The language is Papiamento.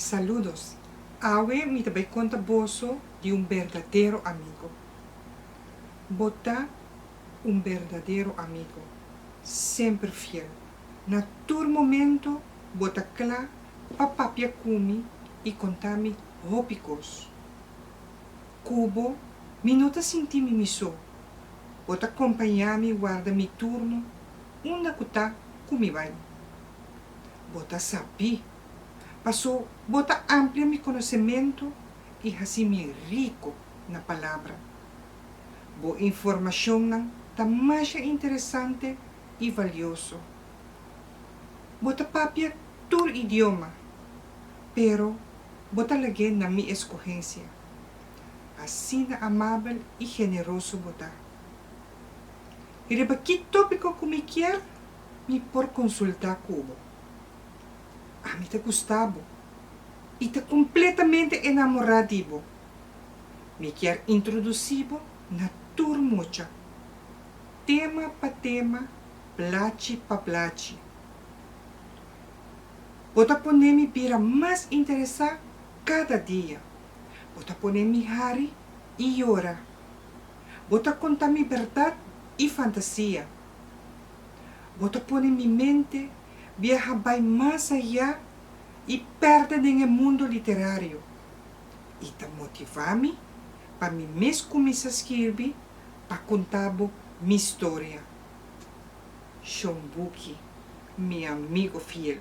Saludos. Awe mi ta bai konta boso di un berdadero amigo. Bo ta un berdadero amigo, semper fiel. Na tur momento bo ta kla pa papia ku mi i konta mi hopi kos. Ku bo mi no ta sinti mi mi so. Bo ta kompañá mi warda mi turno unda ku ta ku mi bai. Bo ta sabí. Paso, bo ta amplia mi konosementu i hasi mi riko na Palabra. Bo informashonnan ta masha interesante i valioso. Bo ta papia tur idioma, pero bo ta lag'é na mi eskohensia. Asina amabel i generoso bo ta. Riba ki tópiko ku mi kier, mi por konsultá ku bo. Ami ta gusta bo i ta kompletamente enamorá di bo. Mi kier introdusí bo na tur mucha. Tema pa tema, blachi pa blachi. Bo ta pon'é mi bira mas interesá kada dia. Bo ta pon'é mi hari i yora. Bo ta konta mi bèrdat i fantasia. Bo ta pone mi mente biaha bai mas ayá i pèrdè den e mundu literario, i ta motivá mi pa mi mes kuminsá skirbi pa kunta bo mi storia. Shon Buki, mi amigu fiel.